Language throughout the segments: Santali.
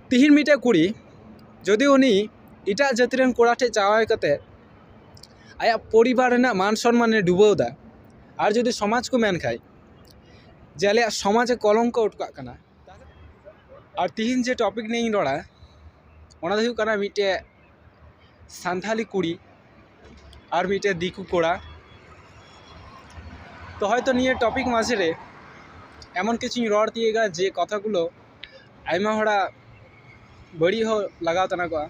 ᱛᱤᱦᱤᱧ ᱢᱤᱫᱴᱮᱱ ᱠᱩᱲᱤ ᱡᱩᱫᱤ ᱩᱱᱤ ᱮᱴᱟᱜ ᱡᱟᱹᱛᱤ ᱨᱮᱱ ᱠᱚᱲᱟ ᱴᱷᱮᱱ ᱡᱟᱶᱟᱭ ᱠᱟᱛᱮᱫ ᱟᱭᱟᱜ ᱯᱚᱨᱤᱵᱟᱨ ᱨᱮᱱᱟᱜ ᱢᱟᱱ ᱥᱚᱱᱢᱟᱱᱮ ᱰᱩᱵᱟᱹᱣ ᱮᱫᱟ ᱟᱨ ᱡᱩᱫᱤ ᱥᱚᱢᱟᱡᱽ ᱠᱚ ᱢᱮᱱ ᱠᱷᱟᱱ ᱡᱮ ᱟᱞᱮᱭᱟᱜ ᱥᱚᱢᱟᱡᱽ ᱮ ᱠᱚᱞᱚᱝᱠᱚ ᱦᱚᱴᱚ ᱠᱟᱜ ᱠᱟᱱᱟ ᱟᱨ ᱛᱤᱦᱤᱧ ᱡᱮ ᱴᱚᱯᱤᱠ ᱱᱤᱭᱮᱧ ᱨᱚᱲᱟ ᱚᱱᱟ ᱫᱚ ᱦᱩᱭᱩᱜ ᱠᱟᱱᱟ ᱢᱤᱫᱴᱮᱱ ᱥᱟᱱᱛᱟᱲᱤ ᱠᱩᱲᱤ ᱟᱨ ᱢᱤᱫᱴᱮᱱ ᱫᱤᱠᱩ ᱠᱚᱲᱟ ᱛᱚ ᱦᱚᱭᱛᱳ ᱱᱤᱭᱟᱹ ᱴᱚᱯᱤᱠ ᱢᱟᱡᱷᱮ ᱨᱮ ᱮᱢᱚᱱ ᱠᱤᱪᱷᱩᱧ ᱨᱚᱲ ᱛᱤᱭᱳᱜᱟ ᱡᱮ ᱠᱟᱛᱷᱟ ᱜᱩᱞᱳ ᱟᱭᱢᱟ ᱦᱚᱲᱟᱜ ᱵᱟᱹᱲᱤᱡ ᱦᱚᱸ ᱞᱟᱜᱟᱣ ᱛᱟᱱᱟ ᱠᱚᱜᱼᱟ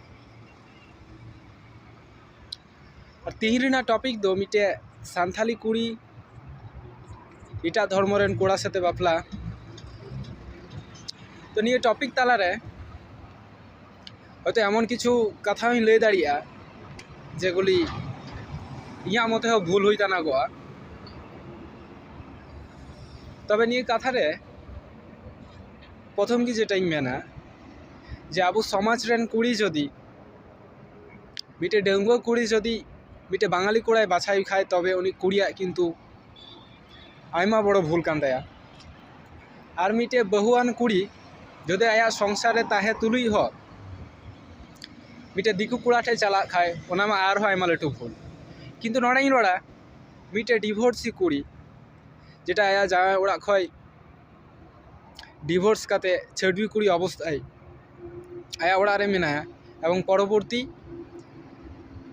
ᱟᱨ ᱛᱤᱦᱤᱧ ᱨᱮᱱᱟᱜ ᱴᱚᱯᱤᱠ ᱫᱚ ᱢᱤᱫᱴᱮᱡ ᱥᱟᱱᱛᱟᱲᱤ ᱠᱩᱲᱤ ᱮᱴᱟᱜ ᱫᱷᱚᱨᱢᱚ ᱨᱮᱱ ᱠᱚᱲᱟ ᱥᱟᱛᱮ ᱵᱟᱯᱞᱟ ᱛᱚ ᱱᱤᱭᱟᱹ ᱴᱚᱯᱤᱠ ᱛᱟᱞᱟᱨᱮ ᱦᱚᱭᱛᱳ ᱮᱢᱚᱱ ᱠᱤᱪᱷᱩ ᱠᱟᱛᱷᱟ ᱦᱚᱸᱧ ᱞᱟᱹᱭ ᱫᱟᱲᱮᱭᱟᱜᱼᱟ ᱡᱮᱜᱩᱞᱤ ᱤᱧᱟᱹᱜ ᱢᱚᱛᱮ ᱦᱚᱸ ᱵᱷᱩᱞ ᱦᱩᱭ ᱫᱟᱲᱮᱭᱟᱜᱼᱟ ᱛᱚᱵᱮ ᱱᱤᱭᱟᱹ ᱠᱟᱛᱷᱟ ᱨᱮ ᱯᱨᱚᱛᱷᱚᱢ ᱜᱮ ᱡᱮᱴᱟᱧ ᱢᱮᱱᱟ ᱡᱮ ᱟᱵᱚ ᱥᱚᱢᱟᱡᱽ ᱨᱮᱱ ᱠᱩᱲᱤ ᱡᱩᱫᱤ ᱢᱤᱫᱴᱮᱱ ᱰᱟᱺᱜᱩᱣᱟᱹ ᱠᱩᱲᱤ ᱡᱩᱫᱤ ᱢᱤᱫᱴᱮᱱ ᱵᱟᱝᱜᱟᱞᱤ ᱠᱚᱲᱟᱭ ᱵᱟᱪᱷᱟᱣ ᱮ ᱠᱷᱟᱱ ᱛᱚᱵᱮ ᱩᱱᱤ ᱠᱩᱲᱤᱭᱟᱜ ᱠᱤᱱᱛᱩ ᱟᱭᱢᱟ ᱵᱚᱲᱚ ᱵᱷᱩᱞ ᱠᱟᱱ ᱛᱟᱭᱟ ᱟᱨ ᱢᱤᱫᱴᱮᱡ ᱵᱟᱹᱦᱩᱣᱟᱱ ᱠᱩᱲᱤ ᱡᱩᱫᱤ ᱟᱭᱟᱜ ᱥᱚᱝᱥᱟᱨ ᱨᱮ ᱛᱟᱦᱮᱸ ᱛᱩᱞᱩᱡ ᱦᱚᱸ ᱢᱤᱫᱴᱮᱡ ᱫᱤᱠᱩ ᱠᱚᱲᱟ ᱴᱷᱮᱡ ᱪᱟᱞᱟᱜ ᱠᱷᱟᱡ ᱚᱱᱟ ᱢᱟ ᱟᱨᱦᱚᱸ ᱟᱭᱢᱟ ᱞᱟᱹᱴᱩ ᱵᱷᱩᱞ ᱠᱤᱱᱛᱩ ᱱᱚᱰᱮᱧ ᱨᱚᱲᱟ ᱢᱤᱫᱴᱮᱡ ᱰᱤᱵᱷᱳᱨᱥᱤ ᱠᱩᱲᱤ ᱡᱮᱴᱟ ᱟᱭᱟᱜ ᱡᱟᱶᱟᱭ ᱚᱲᱟᱜ ᱠᱷᱚᱡ ᱰᱤᱵᱷᱳᱨᱥ ᱠᱟᱛᱮ ᱪᱷᱟᱹᱰᱣᱤ ᱠᱩᱲᱤ ᱚᱵᱚᱥᱛᱟᱭ ᱟᱭᱟᱜ ᱚᱲᱟᱜ ᱨᱮ ᱢᱮᱱᱟᱭᱟ ᱮᱵᱚᱝ ᱯᱚᱨᱚᱵᱚᱨᱛᱤ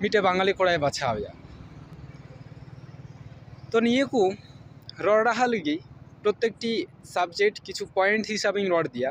ᱢᱤᱫᱴᱮᱱ ᱵᱟᱝᱜᱟᱞᱤ ᱠᱚᱲᱟᱭ ᱵᱟᱪᱷᱟᱣ ᱮᱭᱟ ᱛᱚ ᱱᱤᱭᱟᱹ ᱠᱚ ᱨᱚᱲ ᱨᱟᱦᱟ ᱞᱟᱹᱜᱤᱫ ᱯᱨᱚᱛᱮᱠᱴᱤ ᱥᱟᱵᱡᱮᱠᱴ ᱠᱤᱪᱷᱩ ᱯᱚᱭᱮᱱᱴ ᱦᱤᱥᱟᱹᱵᱤᱧ ᱨᱚᱲ ᱤᱫᱤᱭᱟ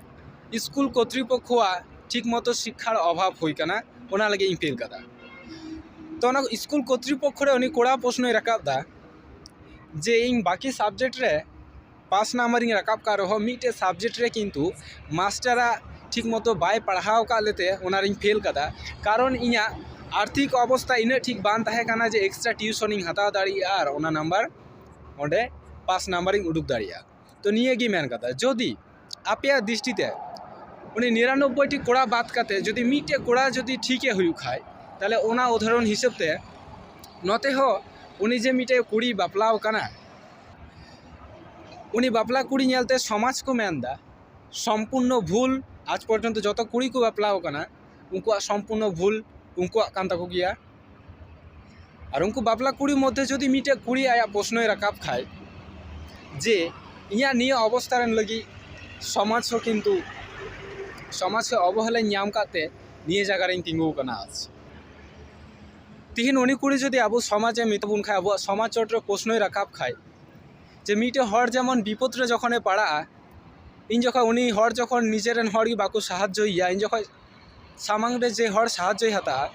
ᱤᱥᱠᱩᱞ ᱠᱚᱨᱛᱤᱯᱚᱠᱠᱷᱚᱣᱟᱜ ᱴᱷᱤᱠ ᱢᱚᱛᱚ ᱥᱤᱠᱠᱷᱟᱨ ᱚᱵᱷᱟᱵᱽ ᱦᱩᱭ ᱠᱟᱱᱟ ᱚᱱᱟ ᱞᱟᱹᱜᱤᱫ ᱤᱧ ᱯᱷᱤᱞ ᱠᱟᱫᱟ ᱛᱚ ᱚᱱᱟ ᱤᱥᱠᱩᱞ ᱠᱚᱨᱛᱤᱯᱚᱠᱠᱷᱚ ᱨᱮ ᱩᱱᱤ ᱠᱚᱲᱟ ᱯᱨᱚᱥᱱᱚᱭ ᱨᱟᱠᱟᱵ ᱫᱟ ᱡᱮ ᱤᱧ ᱵᱟᱠᱤ ᱥᱟᱵᱡᱮᱠᱴ ᱨᱮ ᱯᱟᱥ ᱱᱟᱢᱵᱟᱨ ᱤᱧ ᱨᱟᱠᱟᱵ ᱠᱟᱜ ᱨᱮᱦᱚᱸ ᱢᱤᱫᱴᱮᱡ ᱥᱟᱵᱡᱮᱠᱴ ᱨᱮ ᱠᱤᱱᱛᱩ ᱢᱟᱥᱴᱟᱨ ᱟᱜ ᱴᱷᱤᱠ ᱢᱚᱛᱚ ᱵᱟᱭ ᱯᱟᱲᱦᱟᱣ ᱠᱟᱜ ᱞᱮᱛᱮ ᱚᱱᱟ ᱨᱤᱧ ᱯᱷᱮᱞ ᱠᱟᱫᱟ ᱠᱟᱨᱚᱱ ᱤᱧᱟᱹᱜ ᱟᱨᱛᱷᱤᱠ ᱚᱵᱚᱥᱛᱷᱟ ᱤᱱᱟᱹᱜ ᱴᱷᱤᱠ ᱵᱟᱝ ᱛᱟᱦᱮᱸ ᱠᱟᱱᱟ ᱡᱮ ᱮᱠᱥᱴᱨᱟ ᱴᱤᱭᱩᱥᱚᱱ ᱤᱧ ᱦᱟᱛᱟᱣ ᱫᱟᱲᱮᱭᱟᱜᱼᱟ ᱟᱨ ᱚᱱᱟ ᱱᱟᱢᱵᱟᱨ ᱚᱸᱰᱮ ᱯᱟᱥ ᱱᱟᱢᱵᱟᱨ ᱤᱧ ᱩᱰᱩᱠ ᱫᱟᱲᱮᱭᱟᱜᱼᱟ ᱛᱚ ᱱᱤᱭᱟᱹ ᱜᱮ ᱢᱮᱱ ᱠᱟᱛᱷᱟ ᱡᱩᱫᱤ ᱟᱯᱮᱭᱟᱜ ᱫᱨᱤᱥᱴᱤ ᱛᱮ ᱩᱱᱤ ᱱᱤᱨᱟᱱᱚᱵᱵᱳᱭ ᱴᱤ ᱠᱚᱲᱟ ᱵᱟᱫ ᱠᱟᱛᱮ ᱡᱩᱫᱤ ᱢᱤᱫᱴᱮᱡ ᱠᱚᱲᱟ ᱡᱩᱫᱤ ᱴᱷᱤᱠᱮ ᱦᱩᱭᱩᱜ ᱠᱷᱟᱡ ᱛᱟᱦᱚᱞᱮ ᱚᱱᱟ ᱩᱫᱟᱦᱚᱨᱚᱱ ᱦᱤᱥᱟᱹᱵ ᱛᱮ ᱱᱚᱛᱮ ᱦᱚᱸ ᱩᱱᱤ ᱡᱮ ᱢᱤᱫᱴᱮᱡ ᱠᱩᱲᱤ ᱵᱟᱯᱞᱟᱣ ᱠᱟᱱᱟᱭ ᱩᱱᱤ ᱵᱟᱯᱞᱟ ᱠᱩᱲᱤ ᱧᱮᱞ ᱛᱮ ᱥᱚᱢᱟᱡᱽ ᱠᱚ ᱢᱮᱱ ᱮᱫᱟ ᱥᱚᱢᱯᱩᱨᱱᱚ ᱵᱷᱩᱞ ᱟᱡᱽ ᱯᱚᱨᱡᱚᱱᱛᱚ ᱡᱚᱛᱚ ᱠᱩᱲᱤ ᱠᱚ ᱵᱟᱯᱞᱟᱣ ᱠᱟᱱᱟ ᱩᱱᱠᱩᱣᱟᱜ ᱥᱚᱢᱯᱩᱨᱱᱚ ᱵᱷᱩᱞ ᱩᱱᱠᱩᱣᱟᱜ ᱠᱟᱱ ᱛᱟᱠᱚ ᱜᱮᱭᱟ ᱟᱨ ᱩᱱᱠᱩ ᱵᱟᱯᱞᱟ ᱠᱩᱲᱤ ᱢᱚᱫᱽᱫᱷᱮ ᱡᱩᱫᱤ ᱢᱤᱫᱴᱮᱡ ᱠᱩᱲᱤ ᱟᱭᱟᱜ ᱯᱨᱚᱥᱱᱚᱭ ᱨᱟᱠᱟᱵ ᱠᱷᱟᱡ ᱡᱮ ᱤᱧᱟᱹᱜ ᱱᱤᱭᱟᱹ ᱚᱵᱚᱥᱛᱟ ᱨᱮᱱ ᱞᱟᱹᱜᱤᱫ ᱥᱚᱢᱟᱡᱽ ᱦᱚᱸ ᱠᱤᱱᱛᱩ ᱥᱚᱢᱟᱡᱽ ᱠᱷᱚᱡ ᱚᱵᱚᱦᱮᱞᱟᱧ ᱧᱟᱢ ᱠᱟᱜ ᱛᱮ ᱱᱤᱭᱟᱹ ᱡᱟᱭᱜᱟ ᱨᱤᱧ ᱛᱤᱸᱜᱩ ᱟᱠᱟᱱᱟ ᱟᱨ ᱪᱮᱫ ᱛᱤᱦᱤᱧ ᱩᱱᱤ ᱠᱩᱲᱤ ᱡᱩᱫᱤ ᱟᱵᱚ ᱥᱚᱢᱟᱡᱽ ᱮ ᱢᱮᱛᱟ ᱵᱚᱱ ᱠᱷᱟᱡ ᱟᱵᱚᱣᱟᱜ ᱥᱚᱢᱟᱡᱽ ᱪᱚᱴ ᱨᱮ ᱯᱨᱚᱥᱱᱚᱭ ᱨᱟᱠᱟᱵ ᱠᱷᱟᱡ ᱡᱮ ᱢᱤᱫᱴᱮᱡ ᱦᱚᱲ ᱡᱮᱢᱚᱱ ᱵᱤᱯᱚᱫ ᱨᱮ ᱡᱚᱠᱷᱚᱱᱮ ᱯᱟᱲᱟᱜᱼᱟ ᱤᱧ ᱡᱚᱠᱷᱚᱡ ᱩᱱᱤ ᱦᱚᱲ ᱡᱚᱠᱷᱚᱱ ᱱᱤᱡᱮᱨᱮᱱ ᱦᱚᱲ ᱜᱮ ᱵᱟᱠᱚ ᱥᱟᱦᱟᱡᱽᱡᱚᱭᱮᱭᱟ ᱤᱧ ᱡᱚᱠᱷᱚᱡ ᱥᱟᱢᱟᱝ ᱨᱮ ᱡᱮ ᱦᱚᱲ ᱥᱟᱦᱟᱡᱽᱡᱚᱭ ᱦᱟᱛᱟᱣᱟ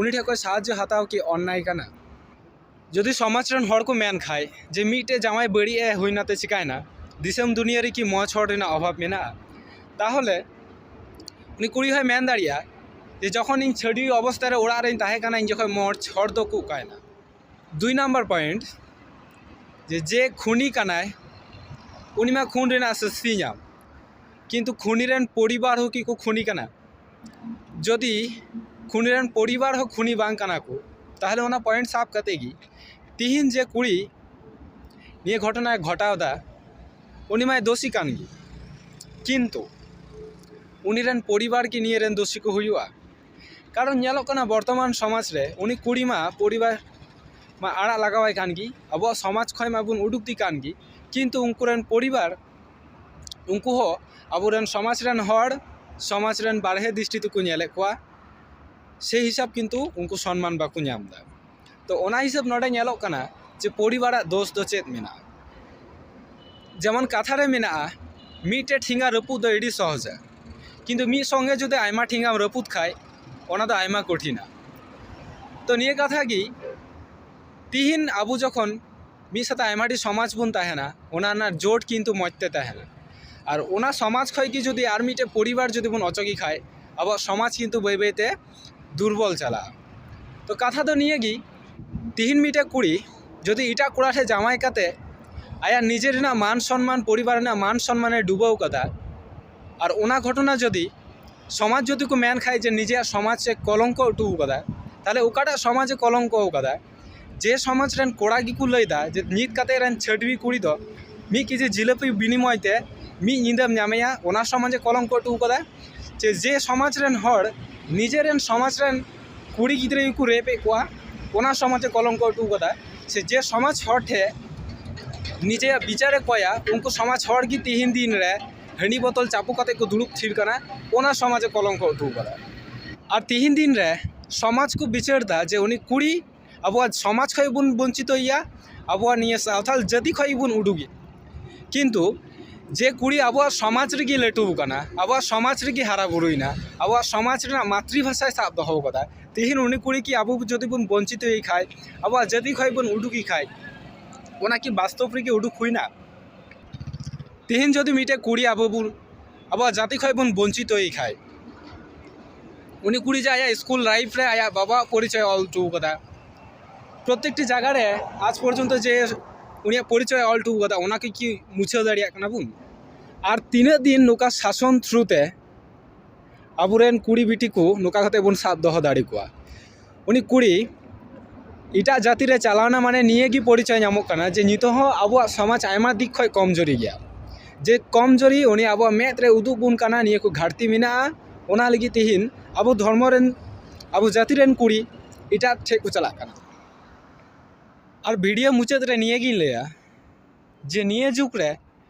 ᱩᱱᱤ ᱴᱷᱮᱱ ᱠᱷᱚᱱ ᱥᱟᱦᱟᱡᱽᱡᱚ ᱦᱟᱛᱟᱣ ᱠᱤ ᱚᱱᱱᱟᱭ ᱠᱟᱱᱟ ᱡᱩᱫᱤ ᱥᱚᱢᱟᱡᱽ ᱨᱮᱱ ᱦᱚᱲ ᱠᱚ ᱢᱮᱱ ᱠᱷᱟᱱ ᱡᱮ ᱢᱤᱫᱴᱮᱱ ᱡᱟᱶᱟᱭ ᱵᱟᱹᱲᱤᱡ ᱮ ᱦᱩᱭ ᱮᱱᱟᱛᱮ ᱪᱤᱠᱟᱹᱭᱮᱱᱟ ᱫᱤᱥᱚᱢ ᱫᱩᱱᱤᱭᱟᱹ ᱨᱮᱠᱤ ᱢᱚᱡᱽ ᱦᱚᱲ ᱨᱮᱱᱟᱜ ᱚᱵᱷᱟᱵᱽ ᱢᱮᱱᱟᱜᱼᱟ ᱛᱟᱦᱚᱞᱮ ᱩᱱᱤ ᱠᱩᱲᱤ ᱦᱚᱸᱭ ᱢᱮᱱ ᱫᱟᱲᱮᱭᱟᱜᱼᱟ ᱡᱮ ᱡᱚᱠᱷᱚᱱ ᱤᱧ ᱪᱷᱟᱹᱰᱣᱤ ᱚᱵᱚᱥᱛᱷᱟ ᱨᱮ ᱚᱲᱟᱜ ᱨᱤᱧ ᱛᱟᱦᱮᱸ ᱠᱟᱱᱟ ᱤᱧ ᱡᱚᱠᱷᱚᱱ ᱢᱚᱡᱽ ᱦᱚᱲ ᱫᱚᱠᱚ ᱚᱠᱟᱭᱮᱱᱟ ᱫᱩᱭ ᱱᱟᱢᱵᱟᱨ ᱯᱚᱭᱮᱱᱴ ᱡᱮ ᱡᱮ ᱠᱷᱚᱱᱤ ᱠᱟᱱᱟᱭ ᱩᱱᱤ ᱢᱟ ᱠᱷᱚᱱ ᱨᱮᱱᱟᱜ ᱥᱟᱹᱥᱛᱤᱭ ᱧᱟᱢ ᱠᱤᱱᱛᱩ ᱠᱷᱚᱱᱤ ᱨᱮᱱ ᱯᱚᱨᱤᱵᱟᱨ ᱦᱚᱸ ᱠᱤᱠᱚ ᱠᱷᱚᱱᱤ ᱠᱟᱱᱟ ᱡᱚᱫᱤ ᱠᱷᱚᱱᱤ ᱨᱮᱱ ᱯᱚᱨᱤᱵᱟᱨ ᱦᱚᱸ ᱠᱷᱚᱱᱤ ᱵᱟᱝ ᱠᱟᱱᱟ ᱠᱚ ᱛᱟᱦᱚᱞᱮ ᱚᱱᱟ ᱯᱚᱭᱮᱱᱴ ᱥᱟᱵ ᱠᱟᱛᱮ ᱜᱮ ᱛᱤᱦᱤᱧ ᱡᱮ ᱠᱩᱲᱤ ᱱᱤᱭᱟᱹ ᱜᱷᱚᱴᱚᱱᱟᱭ ᱜᱷᱚᱴᱟᱣᱫᱟ ᱩᱱᱤ ᱢᱟᱭ ᱫᱳᱥᱤ ᱠᱟᱱ ᱜᱮ ᱠᱤᱱᱛᱩ ᱩᱱᱤ ᱨᱮᱱ ᱯᱚᱨᱤᱵᱟᱨ ᱠᱤ ᱱᱤᱭᱟᱹ ᱨᱮᱱ ᱫᱳᱥᱤ ᱠᱚ ᱦᱩᱭᱩᱜᱼᱟ ᱠᱟᱨᱚᱱ ᱧᱮᱞᱚᱜ ᱠᱟᱱᱟ ᱵᱚᱨᱛᱚᱢᱟᱱ ᱥᱚᱢᱟᱡᱽ ᱨᱮ ᱩᱱᱤ ᱠᱩᱲᱤ ᱢᱟ ᱯᱚᱨᱤᱵᱟᱨ ᱢᱟ ᱟᱲᱟᱜ ᱞᱟᱜᱟᱣ ᱟᱭ ᱠᱟᱱ ᱜᱮ ᱟᱵᱚᱣᱟᱜ ᱥᱚᱢᱟᱡᱽ ᱠᱷᱚᱡ ᱢᱟᱵᱚᱱ ᱩᱰᱩᱠ ᱮ ᱠᱟᱱ ᱜᱮ ᱠᱤᱱᱛᱩ ᱩᱱᱠᱩ ᱨᱮᱱ ᱯᱚᱨᱤᱵᱟᱨ ᱩᱱᱠᱩ ᱦᱚᱸ ᱟᱵᱚ ᱨᱮᱱ ᱥᱚᱢᱟᱡᱽ ᱨᱮᱱ ᱦᱚᱲ ᱥᱚᱢᱟᱡᱽ ᱨᱮᱱ ᱵᱟᱦᱨᱮ ᱫᱨᱤᱥᱴᱤ ᱛᱮᱠᱚ ᱧᱮᱞᱮᱜ ᱠᱚᱣᱟ ᱥᱮᱭ ᱦᱤᱥᱟᱹᱵ ᱠᱤᱱᱛᱩ ᱩᱱᱠᱩ ᱥᱚᱱᱢᱟᱱ ᱵᱟᱠᱚ ᱧᱟᱢᱫᱟ ᱛᱚ ᱚᱱᱟ ᱦᱤᱥᱟᱹᱵ ᱱᱚᱰᱮ ᱧᱮᱞᱚᱜ ᱠᱟᱱᱟ ᱡᱮ ᱯᱚᱨᱤᱵᱟᱨᱟᱜ ᱫᱳᱥ ᱫᱚ ᱪᱮᱫ ᱢᱮᱱᱟᱜᱼᱟ ᱡᱮᱢᱚᱱ ᱠᱟᱛᱷᱟ ᱨᱮ ᱢᱮᱱᱟᱜᱼᱟ ᱢᱤᱫᱴᱮᱱ ᱴᱷᱮᱸᱜᱟ ᱨᱟᱹᱯᱩᱫ ᱫᱚ ᱟᱹᱰᱤ ᱥᱚᱦᱚᱡᱟ ᱠᱤᱱᱛᱩ ᱢᱤᱫ ᱥᱚᱝᱜᱮ ᱡᱩᱫᱤ ᱟᱭᱢᱟ ᱴᱷᱮᱸᱜᱟᱢ ᱨᱟᱹᱯᱩᱫ ᱠᱷᱟᱡ ᱚᱱᱟ ᱫᱚ ᱟᱭᱢᱟ ᱠᱚᱴᱷᱤᱱᱟ ᱛᱚ ᱱᱤᱭᱟᱹ ᱠᱟᱛᱷᱟ ᱜᱮ ᱛᱮᱦᱮᱧ ᱟᱵᱚ ᱡᱚᱠᱷᱚᱱ ᱢᱤᱫ ᱥᱟᱛᱮ ᱟᱭᱢᱟ ᱰᱷᱮᱨ ᱥᱚᱢᱟᱡᱽ ᱵᱚᱱ ᱛᱟᱦᱮᱱᱟ ᱚᱱᱟ ᱨᱮᱱᱟᱜ ᱡᱳᱴ ᱠᱤᱱᱛᱩ ᱢᱚᱡᱽ ᱛᱮ ᱛᱟᱦᱮᱱᱟ ᱟᱨ ᱚᱱᱟ ᱥᱚᱢᱟᱡᱽ ᱠᱷᱚᱡ ᱜᱮ ᱡᱩᱫᱤ ᱟᱨ ᱢᱤᱫᱴᱮᱡ ᱯᱚᱨᱤᱵᱟᱨ ᱡᱩᱫᱤ ᱵᱚᱱ ᱚᱪᱚᱜᱮ ᱠᱷᱟᱡ ᱟᱵᱚᱣᱟᱜ ᱥᱚᱢᱟᱡᱽ ᱠᱤᱱᱛᱩ ᱵᱟᱹᱭ ᱵᱟᱹᱭ ᱛᱮ ᱫᱩᱨᱵᱚᱞ ᱪᱟᱞᱟᱜᱼᱟ ᱛᱚ ᱠᱟᱛᱷᱟ ᱫᱚ ᱱᱤᱭᱟᱹ ᱜᱮ ᱛᱮᱦᱮᱧ ᱢᱤᱫᱴᱮᱱ ᱠᱩᱲᱤ ᱡᱩᱫᱤ ᱮᱴᱟᱜ ᱠᱚᱲᱟ ᱴᱷᱮᱱ ᱡᱟᱶᱟᱭ ᱠᱟᱛᱮᱫ ᱟᱭᱟᱜ ᱱᱤᱡᱮ ᱨᱮᱱᱟᱜ ᱢᱟᱱ ᱥᱚᱱᱢᱟᱱ ᱯᱚᱨᱤᱵᱟᱨ ᱨᱮᱱᱟᱜ ᱢᱟᱱ ᱥᱚᱱᱢᱟᱱ ᱮ ᱰᱩᱵᱟᱹᱣ ᱠᱟᱫᱟ ᱟᱨ ᱚᱱᱟ ᱜᱷᱚᱴᱚᱱᱟ ᱡᱩᱫᱤ ᱥᱚᱢᱟᱡᱽ ᱡᱩᱫᱤ ᱠᱚ ᱢᱮᱱ ᱠᱷᱟᱱ ᱡᱮ ᱱᱤᱡᱮᱨᱟᱜ ᱥᱚᱢᱟᱡᱽ ᱮ ᱠᱚᱞᱚᱝᱠᱚ ᱦᱚᱴᱚ ᱠᱟᱫᱟ ᱛᱟᱦᱚᱞᱮ ᱚᱠᱟᱴᱟᱜ ᱥᱚᱢᱟᱡᱽ ᱮ ᱠᱚᱞᱚᱝᱠᱚ ᱠᱟᱫᱟ ᱡᱮ ᱥᱚᱢᱟᱡᱽ ᱨᱮᱱ ᱠᱚᱲᱟ ᱜᱮᱠᱚ ᱞᱟᱹᱭᱫᱟ ᱡᱮ ᱱᱤᱛ ᱠᱟᱛᱮᱜ ᱨᱮᱱ ᱪᱷᱟᱹᱰᱣᱤ ᱠᱩᱲᱤ ᱫᱚ ᱢᱤᱫ ᱠᱮᱡᱤ ᱡᱷᱤᱞᱟᱹᱯᱤ ᱵᱤᱱᱤᱢᱚᱭ ᱛᱮ ᱢᱤᱫ ᱧᱤᱫᱟᱹᱢ ᱧᱟᱢᱮᱭᱟ ᱚᱱᱟ ᱥᱚᱢᱟᱡᱽ ᱮ ᱠᱚᱞᱚᱝᱠᱚ ᱦᱚᱴᱚ ᱠᱟᱫᱟ ᱡᱮ ᱡᱮ ᱥᱚᱢᱟᱡᱽ ᱨᱮᱱ ᱦᱚᱲ ᱱᱤᱡᱮ ᱨᱮᱱ ᱥᱚᱢᱟᱡᱽ ᱨᱮᱱ ᱠᱩᱲᱤ ᱜᱤᱫᱽᱨᱟᱹ ᱜᱮᱠᱚ ᱨᱮᱯ ᱮᱜ ᱠᱚᱣᱟ ᱚᱱᱟ ᱥᱚᱢᱟᱡᱽ ᱮ ᱠᱚᱞᱚᱝᱠᱚ ᱦᱚᱴᱚ ᱠᱟᱫᱟ ᱥᱮ ᱡᱮ ᱥᱚᱢᱟᱡᱽ ᱦᱚᱲ ᱴᱷᱮᱱ ᱱᱤᱡᱮᱭᱟᱜ ᱵᱤᱪᱟᱨᱮ ᱠᱚᱭᱟ ᱩᱱᱠᱩ ᱥᱚᱢᱟᱡᱽ ᱦᱚᱲᱜᱮ ᱛᱮᱦᱮᱧ ᱫᱤᱱᱨᱮ ᱦᱟᱺᱰᱤ ᱵᱚᱛᱚᱞ ᱪᱟᱯᱚ ᱠᱟᱛᱮᱫ ᱠᱚ ᱫᱩᱲᱩᱵ ᱛᱷᱤᱨ ᱠᱟᱱᱟ ᱚᱱᱟ ᱥᱚᱢᱟᱡᱽ ᱮ ᱠᱚᱞᱚᱝᱠᱚ ᱦᱚᱴᱚ ᱠᱟᱫᱟ ᱟᱨ ᱛᱮᱦᱮᱧ ᱫᱤᱱ ᱨᱮ ᱥᱚᱢᱟᱡᱽ ᱠᱚ ᱵᱤᱪᱟᱹᱨᱫᱟ ᱡᱮ ᱩᱱᱤ ᱠᱩᱲᱤ ᱟᱵᱚᱣᱟᱜ ᱥᱚᱢᱟᱡᱽ ᱠᱷᱚᱡ ᱵᱚᱱ ᱵᱚᱧᱪᱤᱛᱚᱭᱮᱭᱟ ᱟᱵᱚᱣᱟᱜ ᱱᱤᱭᱟᱹ ᱥᱟᱶᱛᱟᱞ ᱡᱟᱹᱛᱤ ᱠᱷᱚᱡ ᱜᱮᱵᱚᱱ ᱩᱰᱩᱠᱮᱭᱟ ᱠᱤᱱᱛᱩ ᱡᱮ ᱠᱩᱲᱤ ᱟᱵᱚᱣᱟᱜ ᱥᱚᱢᱟᱡᱽ ᱨᱮᱜᱮ ᱞᱟᱹᱴᱩ ᱟᱠᱟᱱᱟ ᱟᱵᱚᱣᱟᱜ ᱥᱚᱢᱟᱡᱽ ᱨᱮᱜᱮ ᱦᱟᱨᱟᱼᱵᱩᱨᱩᱭᱮᱱᱟ ᱟᱵᱚᱣᱟᱜ ᱥᱚᱢᱟᱡᱽ ᱨᱮᱱᱟᱜ ᱢᱟᱛᱨᱤ ᱵᱷᱟᱥᱟᱭ ᱥᱟᱵ ᱫᱚᱦᱚ ᱠᱟᱫᱟ ᱛᱮᱦᱮᱧ ᱩᱱᱤ ᱠᱩᱲᱤ ᱠᱤ ᱟᱵᱚ ᱡᱩᱫᱤ ᱵᱚᱱ ᱵᱚᱧᱪᱤᱛᱚᱭᱮ ᱠᱷᱟᱡ ᱟᱵᱚᱣᱟᱜ ᱡᱟᱹᱛᱤ ᱠᱷᱚᱡ ᱵᱚᱱ ᱩᱰᱩᱠᱮ ᱠᱷᱟᱡ ᱚᱱᱟᱠᱤ ᱵᱟᱥᱛᱚᱵ ᱨᱮᱜᱮ ᱩᱰᱩᱠ ᱦᱩᱭᱱᱟ ᱛᱮᱦᱮᱧ ᱡᱩᱫᱤ ᱢᱤᱫᱴᱮᱡ ᱠᱩᱲᱤ ᱟᱵᱚ ᱵᱚᱱ ᱟᱵᱚᱣᱟᱜ ᱡᱟᱛᱤ ᱠᱷᱚᱡ ᱵᱚᱱ ᱵᱚᱧᱪᱤᱛᱚᱭᱮ ᱠᱷᱟᱡ ᱩᱱᱤ ᱠᱩᱲᱤ ᱡᱮ ᱟᱭᱟᱜ ᱤᱥᱠᱩᱞ ᱞᱟᱭᱤᱯᱷ ᱨᱮ ᱟᱭᱟᱜ ᱵᱟᱵᱟᱣᱟᱜ ᱯᱚᱨᱤᱪᱚᱭᱮ ᱚᱞ ᱦᱚᱴᱚᱣ ᱠᱟᱫᱟ ᱯᱨᱚᱛᱛᱮᱠᱴᱤ ᱡᱟᱭᱜᱟ ᱨᱮ ᱟᱡᱽ ᱯᱚᱨᱡᱚᱱᱛᱚ ᱡᱮ ᱩᱱᱤᱭᱟᱜ ᱯᱚᱨᱤᱪᱚᱭᱮ ᱚᱞ ᱦᱚᱴᱚᱣ ᱠᱟᱫᱟ ᱚᱱᱟ ᱠᱚ ᱠᱤ ᱢᱩᱪᱷᱟᱹᱣ ᱫᱟᱲᱮᱭᱟᱜ ᱠᱟᱱᱟ ᱵᱚᱱ ᱟᱨ ᱛᱤᱱᱟᱹᱜ ᱫᱤᱱ ᱱᱚᱝᱠᱟ ᱥᱟᱥᱚᱱ ᱛᱷᱨᱩ ᱛᱮ ᱟᱵᱚᱨᱮᱱ ᱠᱩᱲᱤ ᱵᱤᱴᱤ ᱠᱚ ᱱᱚᱝᱠᱟ ᱠᱟᱛᱮᱫ ᱵᱚᱱ ᱥᱟᱵ ᱫᱚᱦᱚ ᱫᱟᱲᱮ ᱠᱚᱣᱟ ᱩᱱᱤ ᱠᱩᱲᱤ ᱮᱴᱟᱜ ᱡᱟᱹᱛᱤ ᱨᱮ ᱪᱟᱞᱟᱣᱱᱟ ᱢᱟᱱᱮ ᱱᱤᱭᱟᱹ ᱜᱮ ᱯᱚᱨᱤᱪᱚᱭ ᱧᱟᱢᱚᱜ ᱠᱟᱱᱟ ᱡᱮ ᱱᱤᱛᱚᱜ ᱦᱚᱸ ᱟᱵᱚᱣᱟᱜ ᱥᱚᱢᱟᱡᱽ ᱟᱭᱢᱟ ᱫᱤᱠ ᱠᱷᱚᱱ ᱠᱚᱢ ᱡᱩᱨᱤ ᱜᱮᱭᱟ ᱡᱮ ᱠᱚᱢ ᱡᱩᱨᱤ ᱩᱱᱤ ᱟᱵᱚᱣᱟᱜ ᱢᱮᱫ ᱨᱮ ᱩᱫᱩᱜ ᱟᱵᱚᱱ ᱠᱟᱱᱟᱭ ᱱᱤᱭᱟᱹ ᱠᱚ ᱜᱷᱟᱹᱴᱛᱤ ᱢᱮᱱᱟᱜᱼᱟ ᱚᱱᱟ ᱞᱟᱹᱜᱤᱫ ᱛᱮᱦᱤᱧ ᱟᱵᱚ ᱫᱷᱚᱨᱢᱚ ᱨᱮᱱ ᱟᱵᱚ ᱡᱟᱹᱛᱤ ᱨᱮᱱ ᱠᱩᱲᱤ ᱮᱴᱟᱜ ᱴᱷᱮᱱ ᱠᱚ ᱪᱟᱞᱟᱜ ᱠᱟᱱᱟ ᱟᱨ ᱵᱷᱤᱰᱤᱭᱳ ᱢᱩᱪᱟᱹᱫ ᱨᱮ ᱱᱤᱭᱟᱹ ᱜᱤᱧ ᱞᱟᱹᱭᱟ ᱡᱮ ᱱᱤᱭᱟᱹ ᱡᱩᱜᱽ ᱨᱮ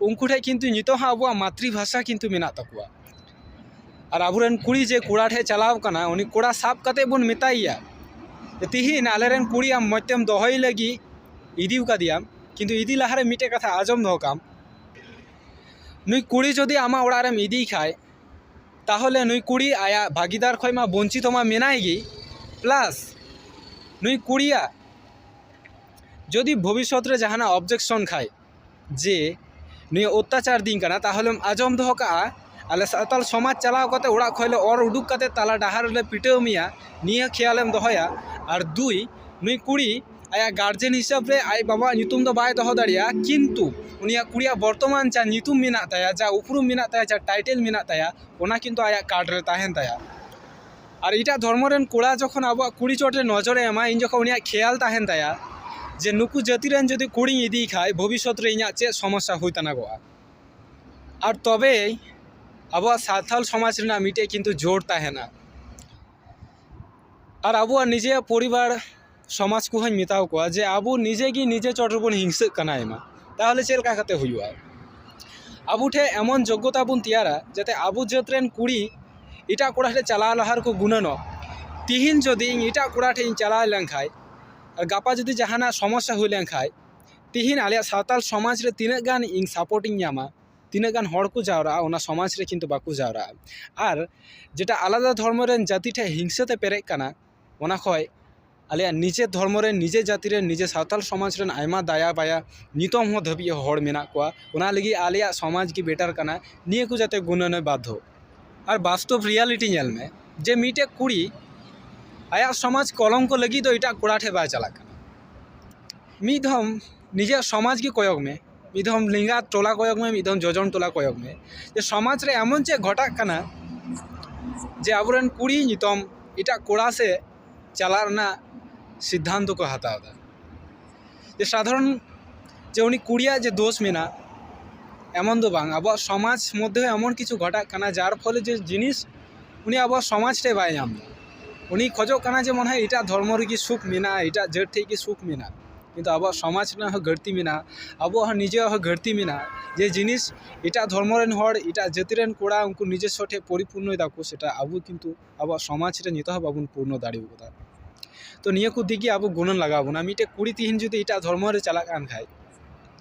ᱩᱱᱠᱩ ᱴᱷᱮᱱ ᱠᱤᱱᱛᱩ ᱱᱤᱛᱚᱜ ᱦᱚᱸ ᱟᱵᱚᱣᱟᱜ ᱢᱟᱛᱨᱤ ᱵᱷᱟᱥᱟ ᱠᱤᱱᱛᱩ ᱢᱮᱱᱟᱜ ᱛᱟᱠᱚᱣᱟ ᱟᱨ ᱟᱵᱚ ᱨᱮᱱ ᱠᱩᱲᱤ ᱡᱮ ᱠᱚᱲᱟ ᱴᱷᱮᱱ ᱪᱟᱞᱟᱣ ᱠᱟᱱᱟ ᱩᱱᱤ ᱠᱚᱲᱟ ᱥᱟᱵ ᱠᱟᱛᱮ ᱵᱚᱱ ᱢᱮᱛᱟᱭᱮᱭᱟ ᱛᱤᱦᱤᱧ ᱟᱞᱮ ᱨᱮᱱ ᱠᱩᱲᱤ ᱟᱢ ᱢᱚᱡᱽ ᱛᱮᱢ ᱫᱚᱦᱚᱭ ᱞᱟᱹᱜᱤᱫ ᱤᱫᱤ ᱠᱟᱫᱮᱭᱟᱢ ᱠᱤᱱᱛᱩ ᱤᱫᱤ ᱞᱟᱦᱟ ᱨᱮ ᱢᱤᱫᱴᱮᱱ ᱠᱟᱛᱷᱟ ᱟᱸᱡᱚᱢ ᱫᱚᱦᱚ ᱠᱟᱜ ᱟᱢ ᱱᱩᱭ ᱠᱩᱲᱤ ᱡᱩᱫᱤ ᱟᱢᱟᱜ ᱚᱲᱟᱜ ᱨᱮᱢ ᱤᱫᱤᱭᱮ ᱠᱷᱟᱱ ᱛᱟᱦᱚᱞᱮ ᱱᱩᱭ ᱠᱩᱲᱤ ᱟᱭᱟᱜ ᱵᱷᱟᱹᱜᱤᱫᱟᱨ ᱠᱷᱚᱱ ᱢᱟ ᱵᱚᱧᱪᱤᱛᱚ ᱢᱟ ᱢᱮᱱᱟᱭ ᱜᱮ ᱯᱞᱟᱥ ᱱᱩᱭ ᱠᱩᱲᱤᱭᱟᱜ ᱡᱩᱫᱤ ᱵᱷᱚᱵᱤᱥᱥᱚᱛ ᱨᱮ ᱡᱟᱦᱟᱱᱟᱜ ᱚᱵᱽᱡᱮᱠᱥᱚᱱ ᱠᱷᱟᱱ ᱡᱮ ᱱᱩᱭᱮ ᱚᱛᱛᱟᱪᱟᱨ ᱫᱤᱧ ᱠᱟᱱᱟ ᱛᱟᱦᱚᱞᱮᱢ ᱟᱸᱡᱚᱢ ᱫᱚᱦᱚ ᱠᱟᱜᱼᱟ ᱟᱞᱮ ᱥᱟᱶᱛᱟᱞ ᱥᱚᱢᱟᱡᱽ ᱪᱟᱞᱟᱣ ᱠᱟᱛᱮ ᱚᱲᱟᱜ ᱠᱷᱚᱡ ᱞᱮ ᱚᱨ ᱩᱰᱩᱠ ᱠᱟᱛᱮ ᱛᱟᱞᱟ ᱰᱟᱦᱟᱨ ᱨᱮᱞᱮ ᱯᱤᱴᱟᱹᱣ ᱢᱮᱭᱟ ᱱᱤᱭᱟᱹ ᱠᱷᱮᱭᱟᱞᱮᱢ ᱫᱚᱦᱚᱭᱟ ᱟᱨ ᱫᱩᱭ ᱱᱩᱭ ᱠᱩᱲᱤ ᱟᱭᱟᱜ ᱜᱟᱨᱡᱮᱱ ᱦᱤᱥᱟᱹᱵ ᱨᱮ ᱟᱡ ᱵᱟᱵᱟᱣᱟᱜ ᱧᱩᱛᱩᱢ ᱫᱚ ᱵᱟᱭ ᱫᱚᱦᱚ ᱫᱟᱲᱮᱭᱟᱜᱼᱟ ᱠᱤᱱᱛᱩ ᱩᱱᱤᱭᱟᱜ ᱠᱩᱲᱤᱭᱟᱜ ᱵᱚᱨᱛᱚᱢᱟᱱ ᱡᱟ ᱧᱩᱛᱩᱢ ᱢᱮᱱᱟᱜ ᱛᱟᱭᱟ ᱡᱟ ᱩᱯᱨᱩᱢ ᱢᱮᱱᱟᱜ ᱛᱟᱭᱟ ᱡᱟ ᱴᱟᱭᱴᱮᱞ ᱢᱮᱱᱟᱜ ᱛᱟᱭᱟ ᱚᱱᱟ ᱠᱤᱱᱛᱩ ᱟᱭᱟᱜ ᱠᱟᱨᱰ ᱨᱮ ᱛᱟᱦᱮᱱ ᱛᱟᱭᱟ ᱟᱨ ᱮᱴᱟᱜ ᱫᱷᱚᱨᱢᱚ ᱨᱮᱱ ᱠᱚᱲᱟ ᱡᱚᱠᱷᱚᱱ ᱟᱵᱚᱣᱟᱜ ᱠᱩᱲᱤ ᱪᱚᱴ ᱨᱮ ᱱᱚᱡᱚᱨᱮ ᱮᱢᱟ ᱩᱱ ᱡᱚᱠᱷᱚᱱ ᱩᱱᱤᱭᱟᱜ ᱠᱷᱮᱭᱟᱞ ᱛᱟᱦᱮᱱ ᱛᱟᱭᱟ ᱡᱮ ᱱᱩᱠᱩ ᱡᱟᱹᱛᱤ ᱨᱮᱱ ᱡᱩᱫᱤ ᱠᱩᱲᱤᱧ ᱤᱫᱤᱭᱮ ᱠᱷᱟᱡ ᱵᱷᱚᱵᱤᱥᱥᱚᱛ ᱨᱮ ᱤᱧᱟᱹᱜ ᱪᱮᱫ ᱥᱚᱢᱚᱥᱥᱟ ᱦᱩᱭ ᱛᱟᱱᱟᱜᱚᱜᱼᱟ ᱟᱨ ᱛᱚᱵᱮ ᱟᱵᱚᱣᱟᱜ ᱥᱟᱱᱛᱟᱲ ᱥᱚᱢᱟᱡᱽ ᱨᱮᱱᱟᱜ ᱢᱤᱫᱴᱮᱡ ᱠᱤᱱᱛᱩ ᱡᱳᱨ ᱛᱟᱦᱮᱱᱟ ᱟᱨ ᱟᱵᱚᱣᱟᱜ ᱱᱤᱡᱮᱨᱟᱜ ᱯᱚᱨᱤᱵᱟᱨ ᱥᱚᱢᱟᱡᱽ ᱠᱚᱦᱚᱸᱧ ᱢᱮᱛᱟ ᱠᱚᱣᱟ ᱡᱮ ᱟᱵᱚ ᱱᱤᱡᱮ ᱜᱮ ᱱᱤᱡᱮ ᱪᱚᱴ ᱨᱮᱵᱚᱱ ᱦᱤᱝᱥᱟᱹᱜ ᱠᱟᱱᱟ ᱟᱭᱢᱟ ᱛᱟᱦᱚᱞᱮ ᱪᱮᱫ ᱞᱮᱠᱟ ᱠᱟᱛᱮᱜ ᱦᱩᱭᱩᱜᱼᱟ ᱟᱵᱚ ᱴᱷᱮᱡ ᱮᱢᱚᱱ ᱡᱳᱜᱽᱜᱚᱛᱟ ᱵᱚᱱ ᱛᱮᱭᱟᱨᱟ ᱡᱟᱛᱮ ᱟᱵᱚ ᱡᱟᱹᱛ ᱨᱮᱱ ᱠᱩᱲᱤ ᱮᱴᱟᱜ ᱠᱚᱲᱟ ᱴᱷᱮᱡ ᱪᱟᱞᱟᱣ ᱞᱟᱦᱟ ᱨᱮᱠᱚ ᱜᱩᱱᱟᱹᱱᱚᱜ ᱛᱮᱦᱮᱧ ᱡᱩᱫᱤ ᱤᱧ ᱮᱴᱟᱜ ᱠᱚᱲᱟ ᱴᱷᱮᱡ ᱤᱧ ᱪᱟᱞᱟᱣ ᱞᱮᱱᱠᱷᱟᱡ ᱜᱟᱯᱟ ᱡᱩᱫᱤ ᱡᱟᱦᱟᱱᱟᱜ ᱥᱚᱢᱚᱥᱥᱟ ᱦᱩᱭ ᱞᱮᱱᱠᱷᱟᱡ ᱛᱮᱦᱮᱧ ᱟᱞᱮᱭᱟᱜ ᱥᱟᱶᱛᱟᱞ ᱥᱚᱢᱟᱡᱽ ᱨᱮ ᱛᱤᱱᱟᱹᱜ ᱜᱟᱱ ᱤᱧ ᱥᱟᱯᱳᱨᱴ ᱤᱧ ᱧᱟᱢᱟ ᱛᱤᱱᱟᱹᱜ ᱜᱟᱱ ᱦᱚᱲ ᱠᱚ ᱡᱟᱣᱨᱟᱜᱼᱟ ᱚᱱᱟ ᱥᱚᱢᱟᱡᱽ ᱨᱮ ᱠᱤᱱᱛᱩ ᱵᱟᱠᱚ ᱡᱟᱣᱨᱟᱜᱼᱟ ᱟᱨ ᱡᱮᱴᱟ ᱟᱞᱟᱫᱟ ᱫᱷᱚᱨᱢᱚ ᱨᱮᱱ ᱡᱟᱹᱛᱤ ᱴᱷᱮᱡ ᱦᱤᱝᱥᱟᱹ ᱛᱮ ᱯᱮᱨᱮᱡ ᱠᱟᱱᱟ ᱚᱱᱟ ᱠᱷᱚᱡ ᱟᱞᱮᱭᱟᱜ ᱱᱤᱡᱮᱨ ᱫᱷᱚᱨᱢᱚ ᱨᱮ ᱱᱤᱡᱮᱨ ᱡᱟᱹᱛᱤ ᱨᱮ ᱱᱤᱡᱮᱨ ᱥᱟᱶᱛᱟᱞ ᱥᱚᱢᱟᱡᱽ ᱨᱮᱱ ᱟᱭᱢᱟ ᱫᱟᱭᱟ ᱵᱟᱭᱟ ᱱᱤᱛᱚᱝ ᱦᱚᱸ ᱫᱷᱟᱹᱵᱤᱡ ᱦᱚᱲ ᱢᱮᱱᱟᱜ ᱠᱚᱣᱟ ᱚᱱᱟ ᱞᱟᱹᱜᱤᱫ ᱟᱞᱮᱭᱟᱜ ᱥᱚᱢᱟᱡᱽ ᱜᱮ ᱵᱮᱴᱟᱨ ᱠᱟᱱᱟ ᱱᱤᱭᱟᱹ ᱠᱚ ᱡᱟᱛᱮ ᱜᱩᱱᱟᱹᱱᱮ ᱵᱟᱫᱽᱫᱷᱚᱜ ᱟᱨ ᱵᱟᱥᱛᱚᱵ ᱨᱤᱭᱟᱞᱤᱴᱤ ᱧᱮᱞ ᱢᱮ ᱡᱮ ᱢᱤᱫᱴᱮᱡ ᱠᱩᱲᱤ ᱟᱭᱟᱜ ᱥᱚᱢᱟᱡᱽ ᱠᱚᱞᱚᱝᱠᱚ ᱞᱟᱹᱜᱤᱫ ᱫᱚ ᱮᱴᱟᱜ ᱠᱚᱲᱟ ᱴᱷᱮᱡ ᱵᱟᱭ ᱪᱟᱞᱟᱜ ᱠᱟᱱᱟ ᱢᱤᱫ ᱫᱷᱚᱢ ᱱᱤᱡᱮᱨᱟᱜ ᱥᱚᱢᱟᱡᱽ ᱜᱮ ᱠᱚᱭᱚᱜᱽ ᱢᱮ ᱢᱤᱫ ᱫᱷᱟᱣ ᱞᱮᱸᱜᱟ ᱴᱚᱞᱟ ᱠᱚᱭᱚᱜᱽ ᱢᱮ ᱢᱤᱫ ᱫᱷᱟᱣ ᱡᱚᱡᱚᱢ ᱴᱚᱞᱟ ᱠᱚᱭᱚᱜᱽ ᱢᱮ ᱡᱮ ᱥᱚᱢᱟᱡᱽ ᱨᱮ ᱮᱢᱚᱱ ᱪᱮᱫ ᱜᱷᱚᱴᱟᱜ ᱠᱟᱱᱟ ᱡᱮ ᱟᱵᱚ ᱨᱮᱱ ᱠᱩᱲᱤ ᱱᱤᱛᱚᱝ ᱮᱴᱟᱜ ᱠᱚᱲᱟ ᱥᱮᱡ ᱪᱟᱞᱟᱜ ᱨᱮᱱᱟᱜ ᱥᱤᱫᱽᱫᱷᱟᱱᱛᱚ ᱠᱚ ᱦᱟᱛᱟᱣ ᱫᱟ ᱡᱮ ᱥᱟᱫᱷᱟᱨᱚᱱ ᱡᱮ ᱩᱱᱤ ᱠᱩᱲᱤᱭᱟᱜ ᱡᱮ ᱫᱳᱥ ᱢᱮᱱᱟᱜ ᱮᱢᱚᱱ ᱫᱚ ᱵᱟᱝ ᱟᱵᱚᱣᱟᱜ ᱥᱚᱢᱟᱡᱽ ᱢᱚᱫᱽᱫᱷᱮ ᱨᱮ ᱮᱢᱚᱱ ᱠᱤᱪᱷᱩ ᱜᱷᱚᱴᱟᱜ ᱠᱟᱱᱟ ᱡᱟᱨ ᱯᱷᱚᱞᱮ ᱡᱮ ᱡᱤᱱᱤᱥ ᱩᱱᱤ ᱟᱵᱚᱣᱟᱜ ᱥᱚᱢᱟᱡᱽ ᱨᱮ ᱵᱟᱭ ᱧᱟᱢ ᱮᱫᱟ ᱩᱱᱤᱭ ᱠᱷᱚᱡᱚᱜ ᱠᱟᱱᱟ ᱡᱮ ᱢᱚᱱᱮ ᱦᱚᱭ ᱮᱴᱟᱜ ᱫᱷᱚᱨᱢᱚ ᱨᱮᱜᱮ ᱥᱩᱠ ᱢᱮᱱᱟᱜᱼᱟ ᱮᱴᱟᱜ ᱡᱟᱹᱛ ᱴᱷᱮᱱ ᱜᱮ ᱥᱩᱠ ᱢᱮᱱᱟᱜᱼᱟ ᱠᱤᱱᱛᱩ ᱟᱵᱚᱣᱟᱜ ᱥᱚᱢᱟᱡᱽ ᱨᱮᱱᱟᱜ ᱦᱚᱸ ᱜᱟᱹᱞᱛᱤ ᱢᱮᱱᱟᱜᱼᱟ ᱟᱵᱚᱣᱟᱜ ᱦᱚᱸ ᱱᱤᱡᱮᱨᱟᱜ ᱦᱚᱸ ᱜᱟᱹᱞᱛᱤ ᱢᱮᱱᱟᱜᱼᱟ ᱡᱮ ᱡᱤᱱᱤᱥ ᱮᱴᱟᱜ ᱫᱷᱚᱨᱢᱚ ᱨᱮᱱ ᱦᱚᱲ ᱮᱴᱟᱜ ᱡᱟᱹᱛᱤ ᱨᱮᱱ ᱠᱚᱲᱟ ᱩᱱᱠᱩ ᱱᱤᱡᱚᱥᱥᱚ ᱴᱷᱮᱱ ᱯᱚᱨᱤᱯᱩᱨᱱᱚᱭ ᱫᱟᱠᱚ ᱥᱮᱴᱟ ᱟᱵᱚ ᱠᱤᱱᱛᱩ ᱟᱵᱚᱣᱟᱜ ᱥᱚᱢᱟᱡᱽ ᱨᱮ ᱱᱤᱛᱚᱜ ᱦᱚᱸ ᱵᱟᱵᱚᱱ ᱯᱩᱨᱱᱚ ᱫᱟᱲᱮ ᱟᱠᱟᱫᱟ ᱛᱚ ᱱᱤᱭᱟᱹ ᱠᱚ ᱫᱤᱠ ᱜᱮ ᱟᱵᱚ ᱜᱩᱱᱟᱹᱱ ᱞᱟᱜᱟᱣ ᱵᱚᱱᱟ ᱢᱤᱫᱴᱮᱱ ᱠᱩᱲᱤ ᱛᱮᱦᱮᱧ ᱡᱩᱫᱤ ᱮᱴᱟᱜ ᱫᱷᱚᱨᱢᱚ ᱨᱮ ᱪᱟᱞᱟᱜ ᱠᱟᱱ ᱠᱷᱟᱱ